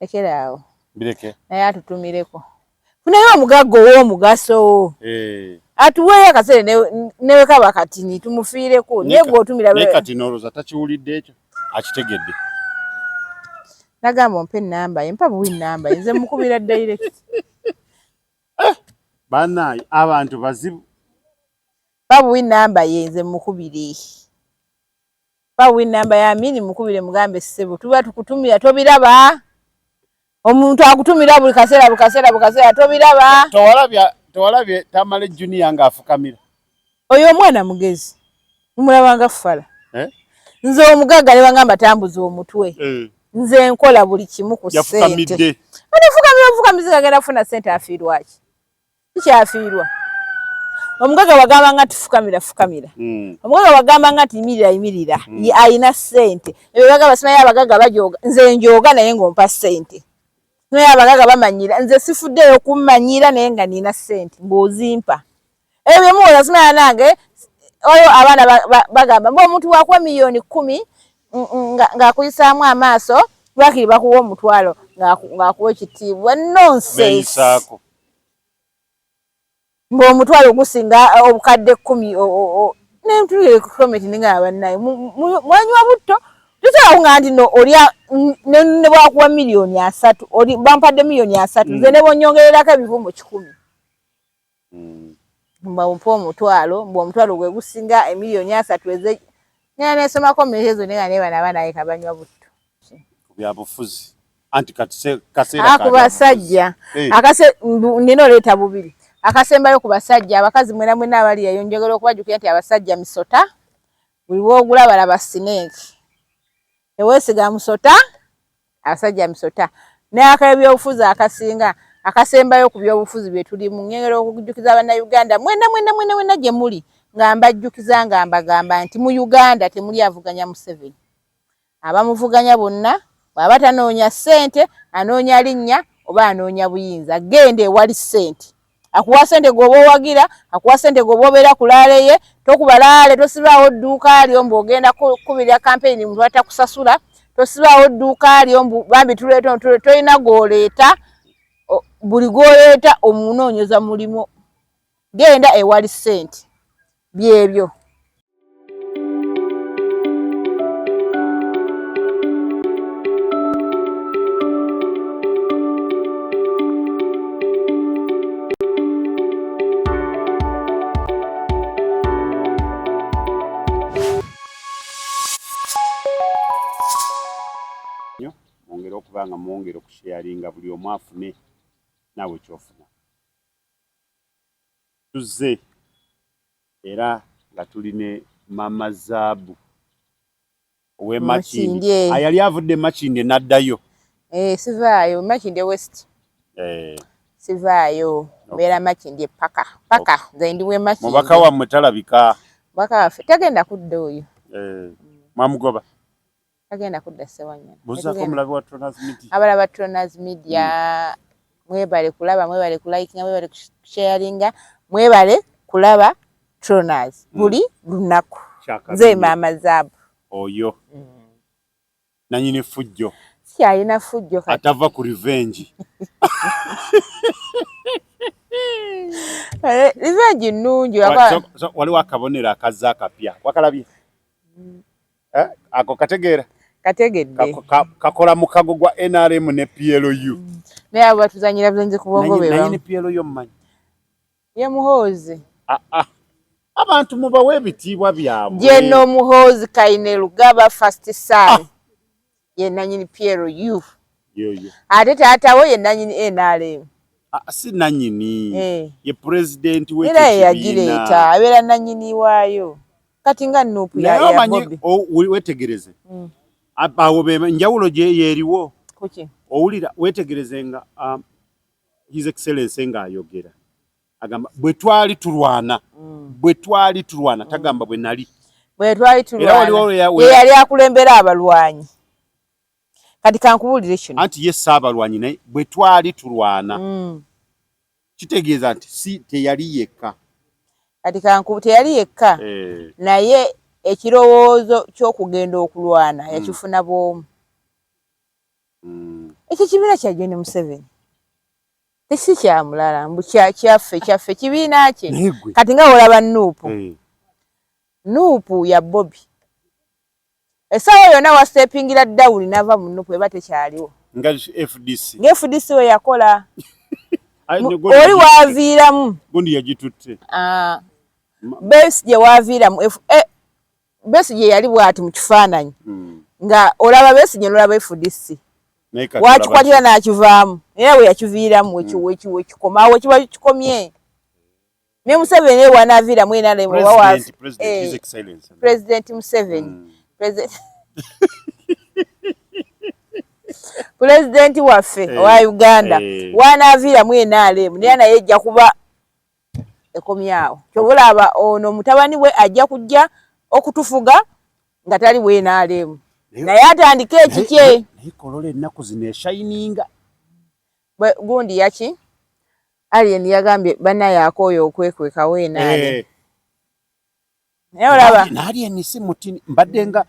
lekera awo bireke naye atutumireko funayo omugagga ow'omugaso eh. atuweeyo akaseere newe kaba katini tumufiireko naye gwe otumira naye kati noloza takiwulidde ekyo akitegedde nagamba ompa enamba ye mpa buwi namba ye nze mukubira direct eh, banaye abantu bazibu babuwi namba ye nze mukubire Ba win number ya mini mukubire mugambe sebo tuba tukutumira tobiraba omuntu akutumira buli kasera buli kasera buli kasera tobiraba towalabya towalabye tamale junior nga afukamira oyo omwana mugezi mumulaba nga fala eh nze omugaga ne bangamba tambuza omutwe eh nze nkola buli kimu ku sente yafukamidde anafukamira mfukamizi kagenda funa sente afirwaki tukyafiirwa omugaga wagamba nga nti fukamira fukamira hmm. omugaga wagamba nga nti yimirira yimirira hmm. alina sente ebyo bagamba simayo abagaga bajoga nze njoga naye ngaompa sente naye abagaga bamanyira nze sifuddeyo kummanyira naye nga nina sente ngaozimpa ebyo byemuwoza simaya nange oyo abaana bagamba mba omuntu wakuwa miliyoni kumi ng'akuyisaamu amaaso lwakiri bakuwa omutwalo ng'akuwa ekitiibwa nonsense ng'omutwalo gusinga eh, obukadde kkumi nemtulire ku komenti ninga yabannaye mwanywa butto tusobola kuŋaa nti no olya ne bwakuwa miliyoni asatu oli bampadde miliyoni asatu nze mm. ne bonyongererako ebivu mu kikumi mm. mba ompa omutwalo mbu omutwalo gwe gusinga emiliyoni asatu eze Nina nesomako mulekezo naye nga nebana abaana yeka banywa butto. Ku byabufuzi. Anti kaseera kaseera. Aku basajja. Hey. Akase nina oleeta bubiri. Akasembayo ku basajja abakazi mwena mwena abali eyo njogera okubajukira nti abasajja misota. Buli w'ogula balaba sineeki. Tewesiga musota. abasajja misota n'akebyobufuzi akasinga akasembayo ku byobufuzi bye tulimu ngengera okujjukiza bannayuganda mwena mwena mwena mwena gye muli nga mbajjukiza nga mbagamba nti mu uganda temuli avuganya museveni abamuvuganya bonna bwaba tanoonya ssente anoonya linnya oba anoonya buyinza genda ewali ssente akuwa sente gwoba owagira akuwa sente gwoba obeera ku laale ye tokuba laale tosibaawo dduuka lyo mbu ogenda kukubirira kampeyini muntu atakusasula tosibaawo dduuka lyo mbu bambi tuleeta tolina gwoleeta buli gwoleeta omunoonyeza mulimu genda ewali sente byebyo okuba nga mwongera okusheyaringa buli omu afune naawe kyofuna Tuzze era nga tuli ne Mama Zaabu ow'e Makindye eh. ayali ah, avudde e Makindye n'addayo. Eh, sivaayo Makindye West. Eh. Sivaayo mbeera Makindye paka paka nze ndi w'e Makindye. Mubaka wammwe talabika. Mubaka waffe tagenda kudda oyo. Eh. Mwamugoba? Tagenda kudda Ssewanyana. Buzaako mulabe wa Tronaz Media. Abala ba Tronaz Media hmm. mwebale kulaba mwebale kulayikinga mwebale kusharinga mwebale kulaba Tronaz hmm. buli lunaku. Nze maama zaabu. Oyo. Mm. Nanyini fujjo. Si alina fujjo kati. Atava ku revenge. Eh, revenge nnungi. Waliwo akabonero akazza akapya. Wakalabye? Mm. eh, ako kategeera kategedde kakola mukago gwa nrm ne plu mm. naye abo batuzanyira bulenzi ku bongo benaye ne plu mumanyi ye muhoozi ah, ah. abantu mubawa ebitiibwa byabwe jeno muhoozi kaine lugaba fast sale ah. ye nanyini plu ate taatawo ye nanyini nrm ah, ah, si nanyini eh. ye pulezidenti wera yeyagireeta abeera nanyini waayo kati nga nupu yabobi wetegereze hmm. awo enjawulo gyeyeriwo owulira wetegereze nga um, his excellence nga ayogera agamba bwe twali tulwana mm. bwe twali tulwana mm. tagamba bwe nali bwe twali tulwanayali akulembera abalwanyi kati kankubulire kino anti ye saabalwanyi naye bwe twali tulwana mm. kitegeeza nti si teyali yekka kati kanku teyali yekka eh. naye ekirowoozo ky'okugenda okulwana mm. yakifuna bwomu mm. ekyo kibiira kya joni museveni si kya mulala mbu kyaffe kyaffe kibiina kye kati nga olaba nuupu eh. nuupu ya bobi essaawa yonna wasitepingira dawuni n'ava mu nuupu eba tekyaliwo nga fdc nga fdc we yakola oli waaviiramu gundi yagitutte ah. besi gye waaviiramu Besigye yali bwati mu kifaananyi hmm. nga olaba Besigye nolaba FDC wakikwatira n'akivaamu era we yakiviiramu wekikomawo hmm. wekiba kikomye ne Museveni ewa navira mu ena lemu wa wa president eh, Museveni mm. president president waffe hey. Eh, wa Uganda hey. Eh. wa navira mu ena lemu ne ana yejja kuba ekomyawo kyobulaba ono mutabani we ajja kujja okutufuga nga tali bwenaleemu naye atandike ekikye kolola ennaku zino eshayininga gundi yaki alien yagambye banaye akooyo okwekwekawo enaale eh. naye olaba nali enisi mutini mbadde nga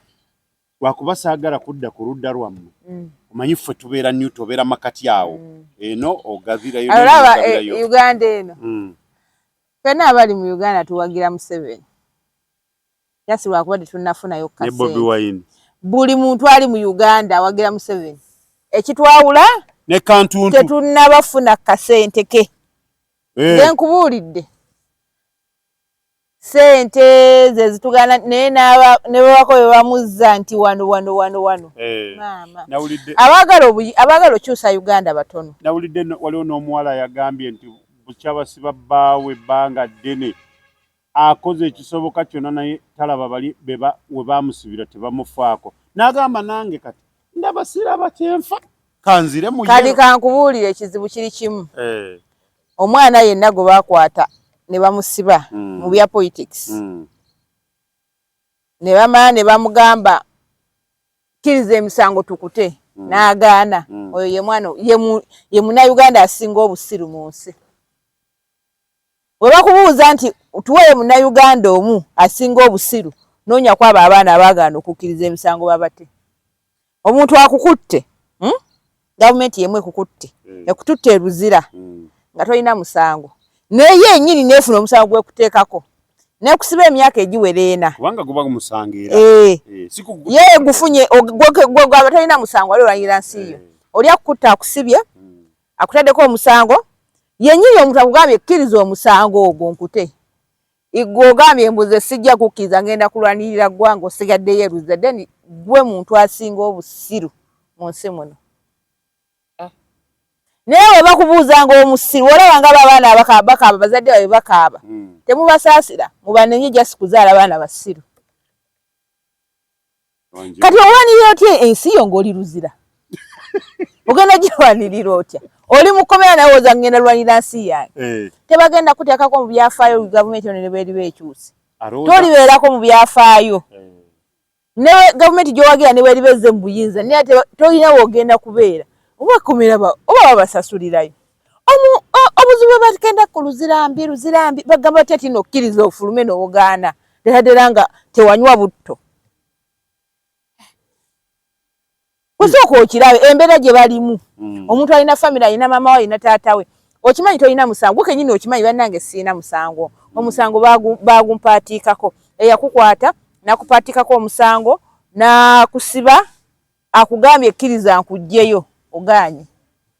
lwakuba saagala kudda ku ludda lwammwe mm. omanyi ffe tubeera new tobeera makati awo mm. eno ogavirayo olaba eh, uganda eno mm. fena abali mu uganda tuwagira museveni jasi lwakuba tetunafunayo kabobi wine buli muntu ali mu uganda awagira museveni ekitwawula ne kantuntu tetunabafuna kasente ke eh. nkubuulidde sente zezitugana naye ne bwebako bebamuzza nti wano wano wano wano eh, maama abaagala okyusa uganda batono nawulidde waliwo n'omuwala yagambye nti bukyabasiba bbaawe ebbanga ddene akoze ekisoboka kyonna naye talaba bali we bamusibira tebamufaako n'agamba nange kati ndabasiraba kyenfa kanzire kati kankubuulire ekizibu kiri kimu eh. omwana yenna gwe bakwata ne bamusiba mm. mu bya politics mm. ne bamala ne bamugamba kiriza emisango tukute mm. n'agaana mm. oyo ye mwana ye munauganda asinga obusiru mu nsi we bakubuuza nti tuweyo munauganda omu asinga obusiru noonya kwabo abaana abaagaana okukkiriza emisango babate omuntu akukutte hmm? gavumenti yemu ekukutte mm. ekututte eruzira mm. nga tolina musango naye enyini nefuna omusango gwekuteekako nekusiba emyaka egiwera ena eh. eh, ye gufunye gwegwaba tolina musango wali olwanyira nsi yo eh. oli akukutta akusibye mm. akutaddeko omusango yenyini omuntu akugambye ekkiriza omusango ogwo nkute Igwe ogambye mbuze sijja kukkiriza ngenda kulwanirira ggwanga osigaddeyo eruze then gwe muntu asinga obusiru mu nsi muno ah. naye we bakubuuzanga omusiru olaba nga babaana abakabakaaba bazadde babe bakaaba hmm. temubasaasira mubanenye jasi kuzaala baana basiru kati owanirira otya ensi yo ng'oli luzira ogenda girwanirira otya oli mukomera nawe oza ngenda lwanira nsi yange eh. tebagenda kuteekako mu byafaayo gavumenti ono nebweriba ekyusi tolibeerako mu byafaayo eh. ne gavumenti gyowagira nebweriba ezze mu buyinza naye tolina weogenda kubeera oba kumira oba babasasulirayo obuzibu bwebagenda ku luzirambi luzirambi bagamba batya ti nokkiriza ofulume nowogaana deraddera nga tewanywa butto osooka okirabe embeera gye balimu mm. omuntu alina famiry alina maama we alina taata we okimanyi tolina musango kenyini okimanyi banange siina musango mm. omusango bagumpaatiikako eyakukwata nakupaatiikako omusango nakusiba akugambye ekkiriza nkugjeyo ogaanye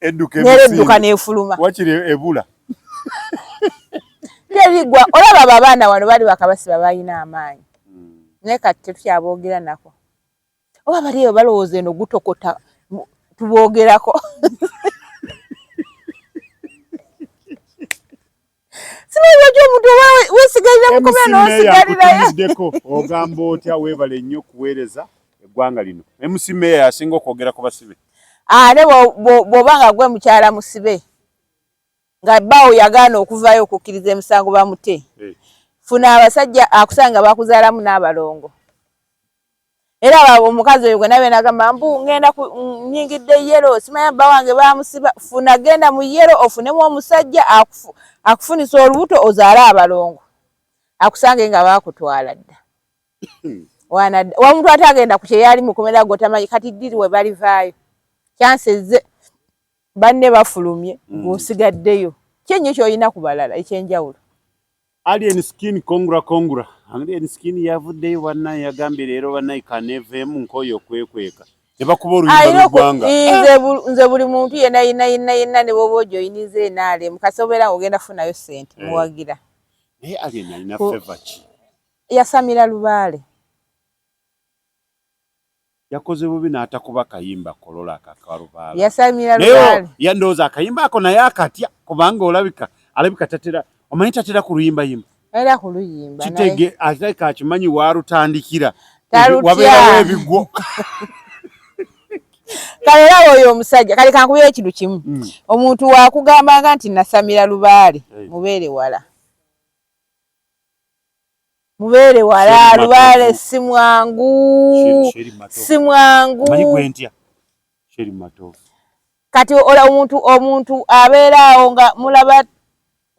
neredduka nefuluma wakiri ebula terigwa olaba babaana wano bali bakabasiba balina amaanyi hmm. naye kati tetukyaboogera nako oba baliyo balowooza eno gutokota tuboogerako simanyi lwaki omuntu oba wesigalira mukomera nosigalirayoddeko ogamba otya webale nnyo okuweereza eggwanga lino mc meya yasinga okwogera ku basibe ate bwoba nga gwe mukyala musibe nga bbaawo yagaana okuvayo okukkiriza emisango bamute eh. funa abasajja akusanga bakuzaalamu n'abalongo era omukazi oyo gwena bena agamba mbu ngenda nyingidde yero simanya bba wange bamusiba funa genda mu yero ofunemu omusajja akufunisa olubuto ozaale abalongo akusange nga bakutwala dda wamuntu ate agenda ku kyeyali mukomera gotamanyi kati diri we balivaayo kyanseze banne bafulumye mm. ng'osigaddeyo kyenyo kyolina ku balala ekyenjawulo Alien skin kongura kongura. Alien skin yavuddeyo bannaye yagambye leero bannaye kaneeveemu nkooyo okwekweka ne bakuba oluyimba lw'eggwanga. Nze buli muntu yenna yenna yenna yenna ne bwoba ojoyiniza enaale mukasobeera ng'ogenda kufunayo ssente eh. muwagira. Naye eh, Alien alina feva ki? Yasamira lubaale. yakoze bubi n'atakuba kayimba kolola ako akalubaala yasamira naye lubaale ya ndowooza akayimba ako naye akatya kubanga olabika alabika tatera omanyi tatera ku luyimbayimba era ku luyimba naye kitege alabika akimanyi waalutandikira Talutya. wabeerawo ebigwo kale era woyo omusajja kale kankubeera ekintu kimu Mm. omuntu wakugambanga nti nasamira lubaale Hey. mubeere wala mubeere wala lubaale si mwangu si mwangu kati ola omuntu omuntu abeera awo nga mulaba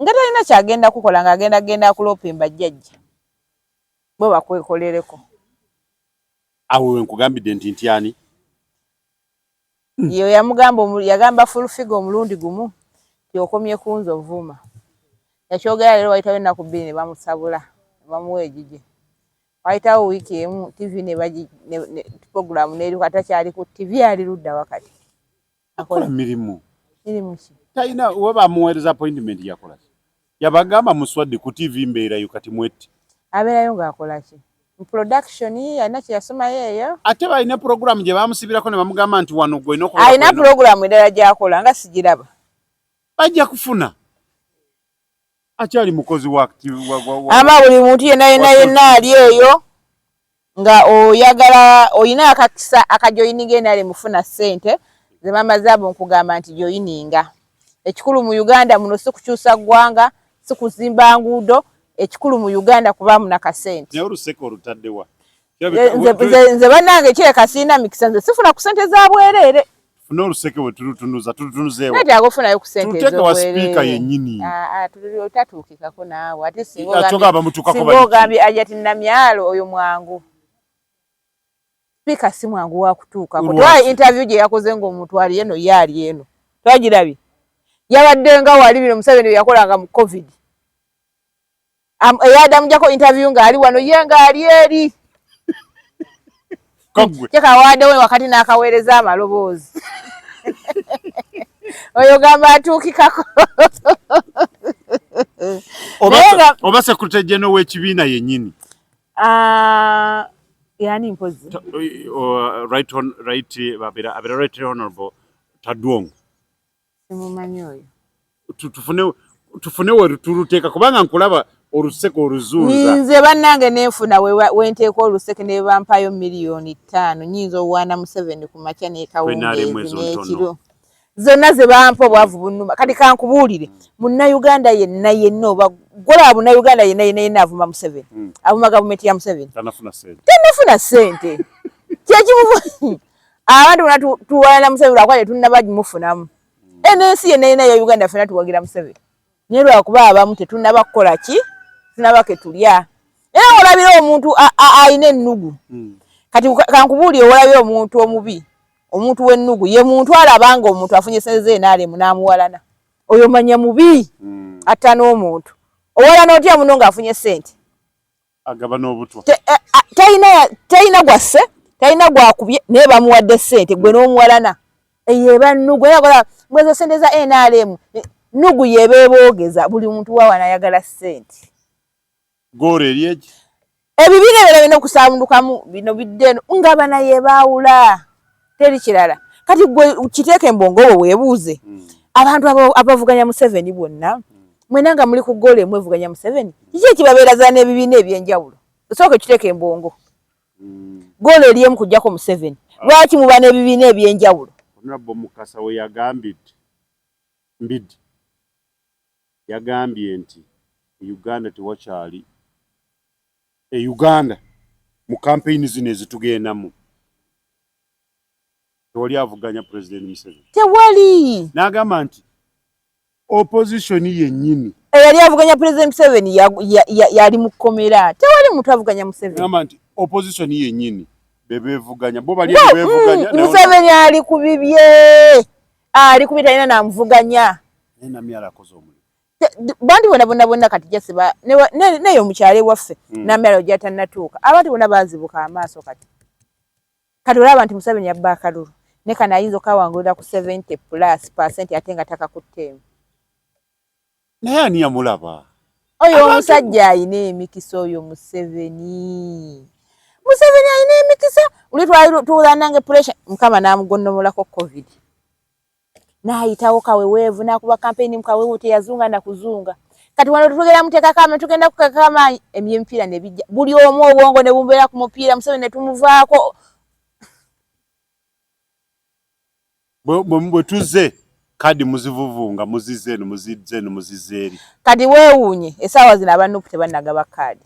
nga talina kyagenda kukola nga agenda genda akulopemba jjajja bwe bakwekolereko awo wenkugambidde nti ntyani hmm. yo yamugamba yagamba full figure omulundi gumu yokomye kunze ovuma yakyogera lero wayitawo ennaku bbiri ne bamusabula bamuwa egigye wayitawo wiiki emu tv program neri kata kyali ku tv ali ludda wakati akola mirimu mirimu ki talina oba bamuweereza appointment yakola Yabagamba muswadde ku TV mbeerayo kati mwette. Abeerayo ng'akola ki? Mu production alina kye yasomayo eyo. Ate balina pulogulaamu gye baamusibirako ne bamugamba nti wano gw'olina okubeera. Alina pulogulaamu endala gy'akola nga sigiraba. Bajja kufuna. Akyali mukozi wa. Aba buli muntu yenna yenna yenna ali eyo. nga oyagala oyina akakisa akajoyininga enale mufuna sente zemama zaabu nkugamba nti joyininga ekikulu mu uganda muno sikukyusa ggwanga sikuzimba nguudo ekikulu mu uganda kuba muna kasente nze banange kireka sirina mikisa nze sifuna ku sente za bwereere funa oluseke wetutunuza tutunuzeewetaagofunayo kusentezoteka wa sipiika yenyini ah, ah, otatuukikako naawe ate singa ogambye ajati namyalo oyo mwangu sipiika si mwangu wakutuukako twa interview gye yakoze ngaomuntu ali eno ye ali eno twagirabye yabadde nga wali bino museveni byeyakolanga mu covid eyadamu jako interview nga ali wano ye nga ali eri kyekawadewo wakati n'akaweereza amaloboozi oyo gamba atuukikako oba sekurite jeno w'ekibiina yennyini ah, yani mpozi right, right, uh, abera right honorable tadwongo simumanyi oyo tufune tufune weturuteeka kubanga nkulaba oluseke oluzuuza nze bannange nenfuna wenteeka oluseke ne bampayo miliyoni ttaano nyinza owaana museveni ku makya nekawungeezi n'ekiro zonna ze bampa obwavu bunuma kati kankubuulire munnayuganda yenna yenna oba golaba munnayuganda yenna yenna yenna avuma museveni hmm. avuma gavumenti ya museveni tanafuna sente kyekimu abantu bona tuwalana museveni lwakuba tetunaba mufunamu enensi yena yena ya uganda fena tuwagira museveni naye lwakuba abamu tetunaba kukola ki tunaba ketulya era olabira omuntu alina ennugu hmm. kati kankubuuli owolabira omuntu omubi omuntu wennugu ye muntu alabanga omuntu afunye seze enalemu namuwalana oyo manya mubi hmm. atta n'omuntu owalana otya muno ngaafunye sente agaba n'obutwa talina talina gwasse talina gwakubye naye bamuwadde sente gwe n'omuwalana eyo eba nnugu era kola mwezo sente za nrm nnugu yeeba eboogeza buli muntu wawana ayagala sente goolo eri eki ebibina ebyo birina okusaamundukamu bino bidde eno nga bana yebaawula teri kirala kati gwe kiteeke embongo wo weebuuze hmm. abantu abavuganya museveni bonna hmm. mwena nga muli ku gole mwevuganya museveni kiki ekibabeeraza n'ebibiina eby'enjawulo osooka ekiteeka embongo hmm. gole eryemu kujjako museveni ah. lwaki muba n'ebibiina eby'enjawulo onabbo mukasa we yagambidde mbidi yagambye nti uganda tewakyali e uganda mu kampeyini zino ezitugendamu tewali avuganya president Museveni tewali nagamba nti opposition yennyini eyali avuganya president Museveni yali mu kkomera tewali muntu avuganya Museveni nagamba nti opposition yennyini bebevuganya bo bali bebevuganya mm, Museveni ali ku bibye ali ku bitalina namuvuganya naye namyala akoze omulimu bantu bona bona bona kati jase ba neyo mukyale waffe mm. namyalo jata natuuka abantu bona bazibuka amaaso kati kati olaba abantu museveni yabba akalulu ne kana ayinza okawangulira ku 70 plus percent ate nga taka kutteemu naye ani yamulaba oyo omusajja ayina emikisa oyo museveni museveni ayina emikisa uli twali tuwulanange pressure mukama namugonnomolako covid n'ayitawo kaweweevu n'akuba kampeyini mu kaweewo teyazunga na kuzunga kati wano tetugera muteekako amaanyi tugenda kuteekako amaanyi ebyemipiira ne bijja buli omu obwongo ne bumubeera ku mupiira museveni ne tumuvaako bwe tuzze kadi muzivuvunga muzizze eno muzizze eno muzizze eri kadi weewuunye essaawa zino abannupu tebannagaba kaadi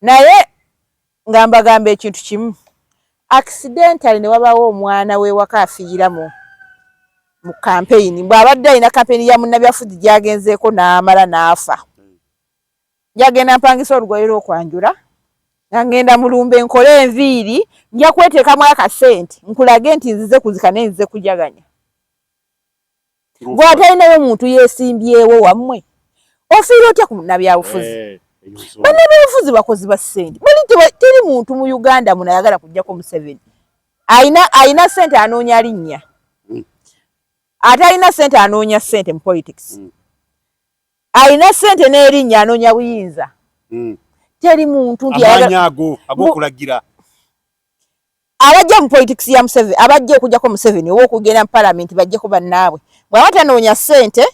naye nga mbagamba ekintu kimu accidentally ne wabaawo omwana w'ewaka afiira mu mu kampeyini bw'abadde alina kampeyini ya munnabyafuzi gyagenzeeko n'amala n'afa njagenda mpangisa olugoye lw'okwanjula nga ngenda mu lumbe nkole enviiri nja kweteekamu akasente nkulage nti nzize kuzika naye nzize kujaganya gwe atalinayo muntu yesimbyewo wammwe ofiira otya ku nabyabufuzi eh, banabyabufuzi bakozi ba sente bali teri muntu mu uganda muno ayagala kujjako museveni alina sente anoonya linnya hmm. atalina sente anoonya sente mu politics hmm. alina sente n'erinnya anoonya buyinza hmm. teri muntu nti agokulagira abajja mu politics ya Museveni abajja okujjako Museveni oba okugenda mu parliament bajjeko bannaabwe bw'aba tanoonya ssente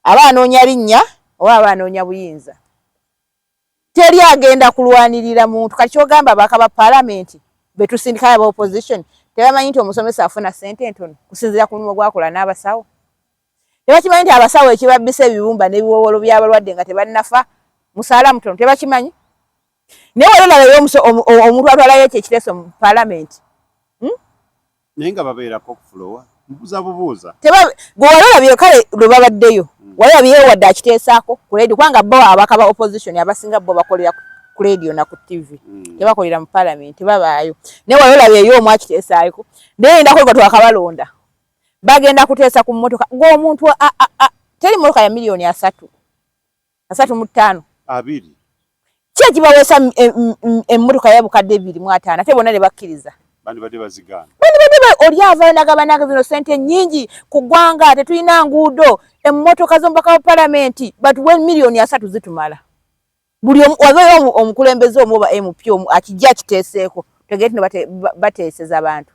aba anoonya linnya oba aba anoonya buyinza teri agenda kulwanirira muntu kati kyogamba abaka ba palamenti betusindikayo aba opposition tebamanyi nti omusomesa afuna ssente entono kusinzira ku mulimu gwakola n'abasawo tebakimanyi nti abasawo ekibabbisa ebibumba n'ebiwowolo by'abalwadde nga tebannafa musaala mutono tebakimanyi naye wali olaba yomuso omuntu atwalayo ekyo ekiteeso mu palamenti hmm? naye nga babeerako okufulowa mubuza bubuuza gwe wali olabye kale lwe babaddeyo hmm. wali olabye wadde akiteesaako ku ledio kubanga bo abaka ba opposition abasinga bo bakolera ku ledio na ku tv hmm. tebakolera mu palamenti babaayo naye wali olabye eyo omu akiteesaayoko naye endako lwa twakabalonda bagenda kuteesa ku mmotoka ng'omuntu teri mmotoka ya miliyoni asatu asatu mu ttaano abiri ki ekibaweesa emmotoka ya bukadde ebiri mu ataano ate bonna ne bakkiriza bandibadde bazigaana bandibadde oli avaayo nagabananga zino sente nyingi ku ggwanga tetulina nguudo emmotoka z'omubaka wa palamenti batuwe miliyoni asatu zitumala buli wabeeyo omukulembeze omu oba mp omu akijja akiteeseeko tegee tino bateeseza abantu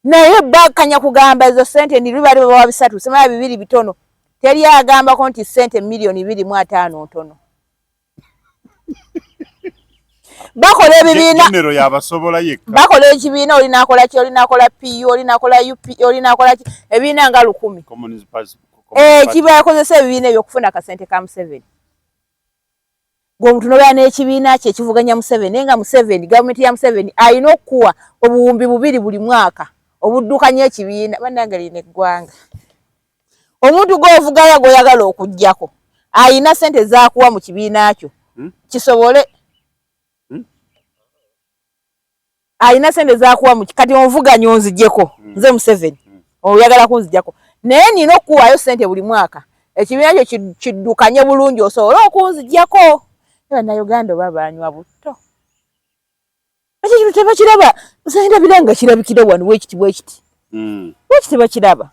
naye bakanya kugamba ezo sente ndi lubali baba bisatu semaya bibiri bitono teri agamba ko nti sente milioni bibiri mu atano ntono bakola ebibiina bakola ekibiina oli nakola ki oli nakola pu oli nakola up oli nakola ki ebiina nga lukumi eh, kibakozesa ebibiina ebyo okufuna akasente ka museveni gwomuntu nobera nekibiina kye ekivuganya museveni naye nga museveni gavumenti ya museveni alina okukuwa obuwumbi bubiri buli mwaka obuddukanya ekibiina banange lino eggwanga omuntu gwovugayo gwoyagala okugjako alina sente zakuwa mu kibiina kyo hmm? kisobole alina sente zakuwa muki kati onvuganya onzijeko mm. nze museveni mm. oyagala kunzijako naye nina okukuwayo sente buli mwaka ekibiina kyo kiddukanye bulungi osobole okunzijako banauganda oba banywa butto ekyo kintu tebakiraba nsendabira nga kirabikira wano wekiti wekiti mm. wekiti bakiraba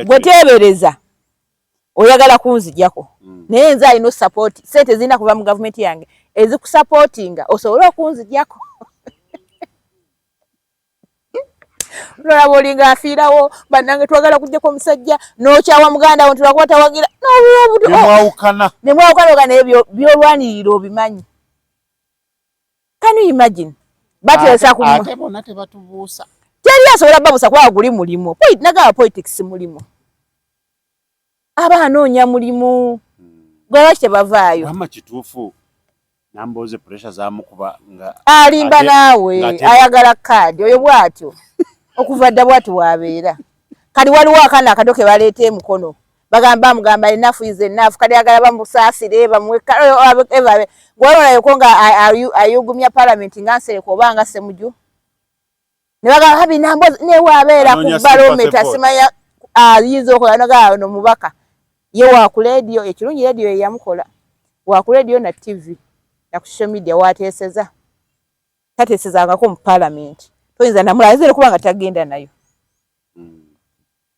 gwe teebereza oyagala kunzijako mm. naye nze alina osupport sente zirina kuva mu gavumenti yange ezikusupportinga osobole okunzijako nolaba olinga afiirawo banange twagala kujjako omusajja nokyawa muganda wo ntulakuba tawagira nemwawukana oga naye byolwanirira obimanyi can you imagine bateresa ku ate bona tebatubuusa teri asobola babusa kuba guli mulimu point nagaba politics mulimu aba anoonya mulimu hmm. gwe lwaki tebavaayo ama kituufu nambooze pressure zamukuba nga alimba naawe ayagala kaadi oyo bwatyo okuva dda bwati wabeera kati waliwo akana akato ke baleeta emukono bagamba bamugamba enafu is enafu kati agala bamusaasire bamuwe ebabe gwewolayo ko nga ayugumya palamenti nga nsereka oba nga semuju ne bagamba habi nambo newaabeera ku balometa simanya ayinza okola nagaa no mubaka ye waku lediyo ekirungi lediyo yeyamukola waku lediyo na tivi na ku social media wateeseza tateesezangako mu palamenti toyinza namulaazire kuba nga tagenda nayo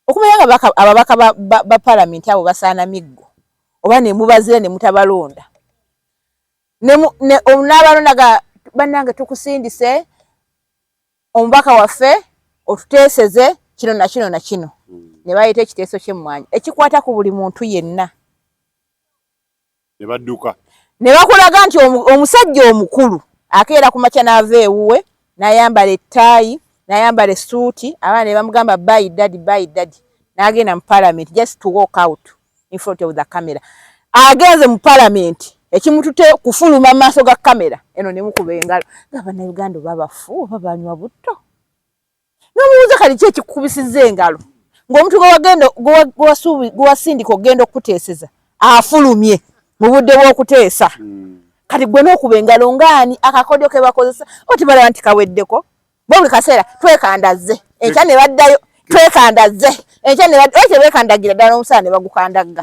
Okumanya nga ababaka ba palamenti abo basaana miggo oba nemubazira nemutabalonda n'abalonda ga bannange tukusindise omubaka waffe otuteeseze kino na kino na kino hmm. ne baleeta ekiteeso ky'emmwanyi ekikwata ku buli muntu yenna ne badduka. Ne bakulaga nti omusajja omukulu akeera ku makya n'ava ewuwe n'ayambala ettaayi n'ayambala essuuti abaana ne bamugamba baayi dadi baayi dadi n'agenda mu palamenti just to walk out in front of the camera agenze mu palamenti ekimutute kufuluma maaso ga kamera eno nemukuba engalo nga bannayuganda oba bafu oba banywa butto n'omubuuza kati ki ekikukubisizza engalo ng'omuntu gwewasindika okugenda okukuteeseza afulumye mu budde bw'okuteesa hmm. kati gwe n'okuba engalo ng'ani akakodyo ke bakozesa oti balaba nti kaweddeko bo buli kaseera twekandazze enkya ne baddayo twekandazze enkya ne baddayo ekyo beekandagira ddala n'omusaala ne bagukandagga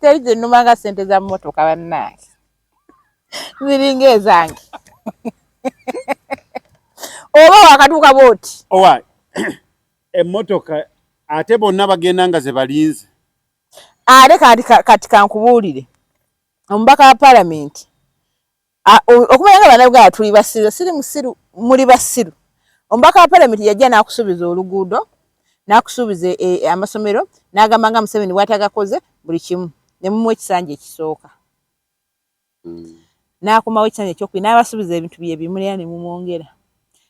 teri kyenuma nga sente za motoka bannange ziringa ezange oba wakatuuka bwoti owa emotoka ate bonna bagenda nga zebalinze ate kati kankubuulire omubaka wa palamenti okumanya nga banauganda tuli basiru siri musiru muli basiru omubaka wa palamenti yajja n'akusuubiza oluguudo n'akusuubiza e, e, amasomero n'agamba nga museveni bwatagakoze buli kimu ne mumuwa ekisanja ekisooka hmm. n'akomawo ekisanja ekyokubiri n'abasuubiza ebintu bye bimu era ne mumwongera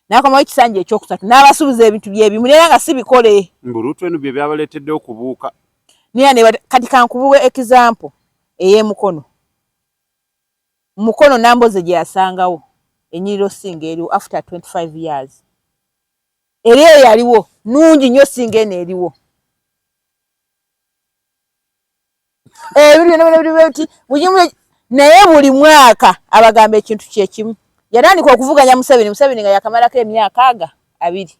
n'akomawo ekisanja ekyokusatu n'abasuubiza ebintu bye bimu era nga si bikole mbulutu eno bye byabaleetedde okubuuka naye kati kankubuwa ekizampo ey'emukono Mukono Nambooze gye yasangawo ennyiriro ssinga eriwo after 25 years era eyo yaliwo nungi nnyo ssinga eno eriwo eh, naye buli mwaka abagamba ekintu kyekimu yatandika okuvuganya museveni museveni nga yakamalako emyaka aga abiri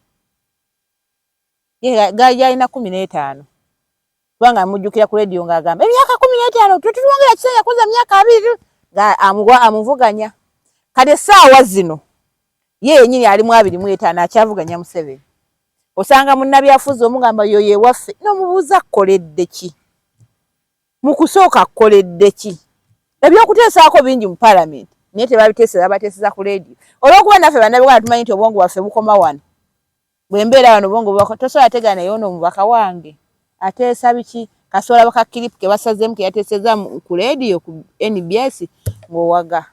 yalina kumi n'etaano kubanga amujjukira ku leediyo ng'agamba emyaka kumi n'etaano twe tulwongera kisa yakoze emyaka abiri nga amuwa amuvuganya kati essaawa zino ye yenyini ali mu abiri mu etaano akyavuganya museveni osanga munnabyafuzi omugamba yoyo ewaffe n'omubuuza akkoledde ki mu kusooka akkoledde ki ebyokuteesaako bingi mu palamenti naye tebabiteeseza bateeseza ku leediyo olwokuba naffe bannabigwana tumanyi nti obwongo bwaffe bukoma wano bwe mbeera wano bongo bubaka tosobola ategeera naye ono omubaka wange ateesa biki kasobola bakakiripu ke basazeemu ke yateeseza ku leediyo ku nbs ng'owaga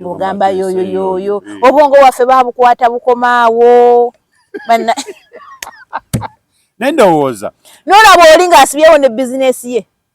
ng'ogamba yoyo yoyo eh. obwongo bwaffe babukwata bukomaawo banna naye ndowooza nolaba oli ng'asibyewo ne bizinesi ye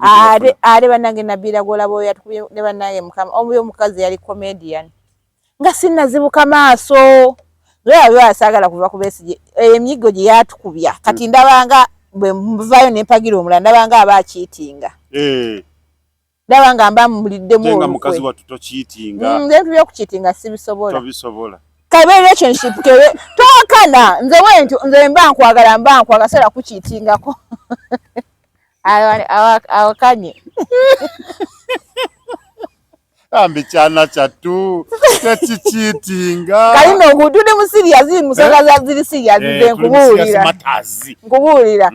are are banange nabira gola boya tukubye ne banange mukama omu yo mukazi yali comedian nga sinna zibuka maaso lwe yali asagala kuva ku besije eh, emyigo gye yatukubya kati ndabanga bwe mvayo ne mpagira omula ndabanga aba cheatinga eh ndabanga mba mulidde mu nga mukazi watu to cheatinga mm, nze mm, tuyo ku cheatinga sibisobola tobisobola kabe relationship kebe tokana nze wentu nze mba nkwagala mba nkwagala sala ku cheatinga ko awakanye ambi kyana kyattu tekikiitinga kali no ngutudde mu siriyazi musanga za ziri siriyazi ze nkubuulira nkubuulira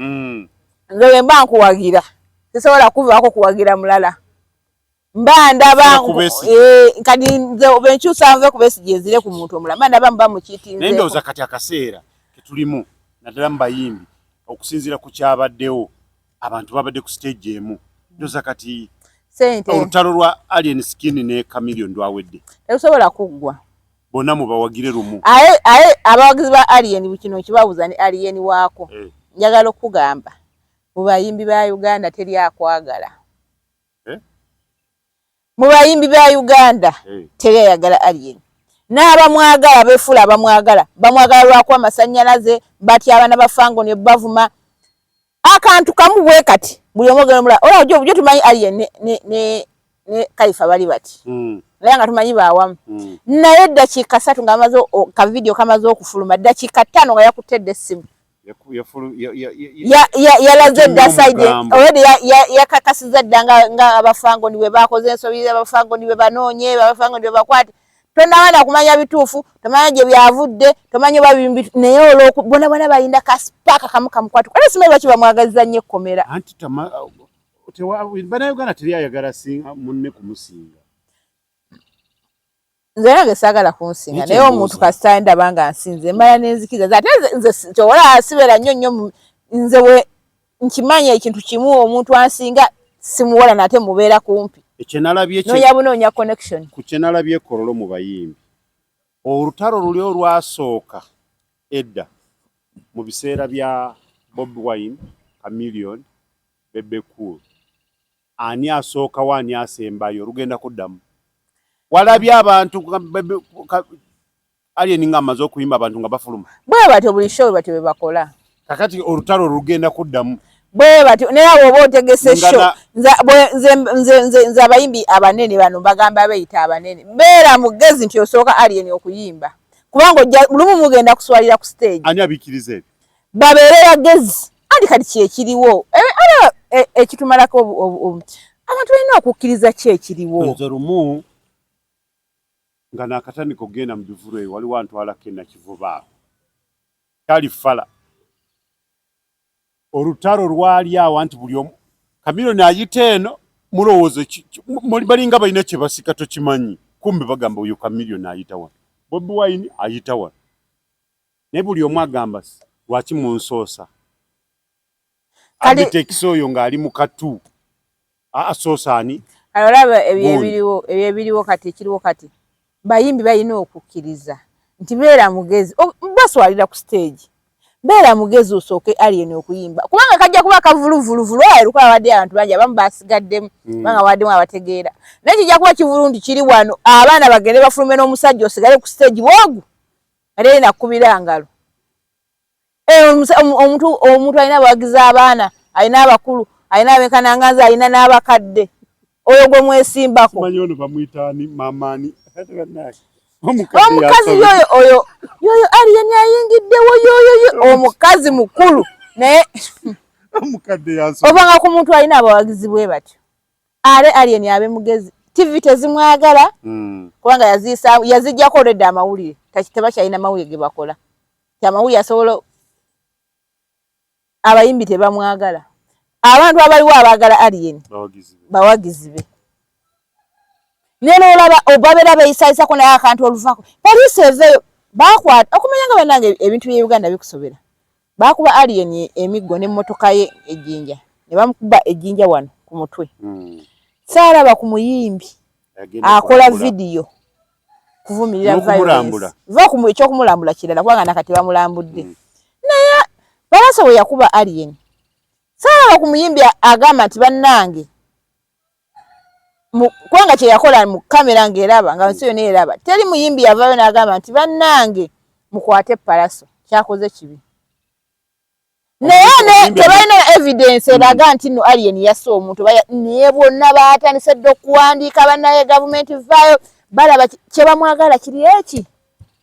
nze wemba nkuwagira sisobola kuvaako kuwagira mulala mba ndaba eh, kati nze benkyusa nve kubesigye nzire ku muntu omulala mba ndaba muba mukitinze naye ndowooza kati akaseera ketulimu naddala mu bayimbi okusinziira ku kyabaddewo abantu babadde ku stage emu ndowooza kati olutalo lwa alien skin ne camilion lwawedde terusobola kuggwa bonna mubawagire lumu aye aye abawagizi ba alien kino kibabuza ne alien waako eh. njagala okukugamba mu bayimbi ba uganda teri akwagala eh? mu bayimbi ba uganda hey. Eh. teri ayagala alien n'abamwagala befuula abamwagala bamwagala lwaku amasanyalaze batya abaana bafango ne bavuma akantu kamu bwe kati buli omu ogenda omulala olaba jo tumanyi alien ne, ne, ne, ne kaifa bali bati mm. naye nga tumanyi baawamu mm. naye eddakiika satu nga amaze kavidiyo kamaze okufuluma ddakiika ttaano nga yakutte dda essimu yalaze dda side already yakakasiza dda nga abafangoni bwe bakoze ensobi abafangoni bwe banoonye abafangoni bwe bakwate tonawana kumanya bituufu tomanya gye byavudde tomanya oba bimbi naye olwoku bona bona balinda kaspaaka kamu kamukwatu kale simanyi lwaki bamwagaliza nnyo ekkomera banauganda teri ayagala singa munne kumusinga nze nange saagala kunsinga naye omuntu kasita ndaba nga nsinze mbala nenzikiza ate nze kyowola sibeera nnyo nnyo nze we nkimanya ekintu kimu omuntu ansinga simuwola nate mubeera kumpi ekyenalabyeoya bunoonya connection ku kyenalabye kololo mu bayimbi olutalo luli olwasooka edda mu biseera bya bob wine amillion bebecool Ani asookawo ani asembayo lugenda kuddamu walabye abantu alien nga amaze okuyimba abantu nga bafuluma bwe batyo buli show batyo bwe bakola kakati olutalo lugenda kuddamu bwe batyo naye abo oba otegese show nze abayimbi abanene bano bagamba beyita abanene beera mugezi nti osooka alien okuyimba kubanga ojja lumu mugenda kuswalira ku stage ani abikiriza ebyo babeere bagezi andi kati kyekiriwo olaba e, e, ekitumalako abantu balina okukkiriza ki ekiriwo nze lumu nga nakatandika okugenda mu bivulu eyo waliwo antwalako enakivuba awo kyali fala olutalo lwali awo anti buli omu kamiro nayita eno mulowooza balinga balina kyebasika tokimanyi kumbe bagamba oyo kamiro nayita wano bobi wine ayita wano Naye buli omu agamba lwaki munsoosa abiteekisa oyo ng'ali mu katu asoosa ani olaba ebyo ebiriwo kati ekiriwo kati bayimbi balina okukkiriza nti beera mugezi baswalira ku siteegi beera mugezi osooke alien okuyimba kubanga kajja kuba kavuluvuluvulu ayo lukuba abadde abantu bangi abamu basigaddemu mm. kubanga waddemu abategeera naye kijja kuba kivulu nti kiri wano abaana bagende bafulume n'omusajja osigale ku siteegi bwogu ate yina kubira ngalo eh, omuntu omuntu alina abawagiza abaana alina abakulu alina abekananganza alina n'abakadde oyo gwe mwesimbako omukazi yoyo oyo yoyo aliyeni ayingiddewo yoyo omukazi mukulu naye obanga ku muntu alina abawagizi bwe batyo are alien abe mugezi tv tezimwagala mm. kubanga yazisa yazijja ko red amawulire takiteba chaina mawuye gebakola kya mawuye asolo abayimbi tebamwagala abantu abaliwo abagala alien bawagizibe neno olaba obabera beyisaisa ko naye akantu oluvako police eveyo bakwata okumanya nga banange ebintu bye Uganda bikusobera Baakuba Alien emiggo n'emmotoka ye e Jinja ne bamukuba e Jinja wano ku mutwe. Hmm. Saalaba ku muyimbi akola vidiyo kuvumirira violence. Va ku ekyokumulambula kirala kubanga nakati bamulambudde. Hmm. Naye Pallaso we yakuba Alien saalaba ku muyimbi agamba nti bannange kubanga kyeyakola mu kamera nga eraba nga nsi yona eraba teri muyimbi yavayo nagamba nti bannange mukwate palaso kyakoze kibi naye tebalina evidence eraga nti no alien yasa omuntu naye bonna batandise dde okuwandiika banaye gavumenti vaayo balaba kyebamwagala kiri eki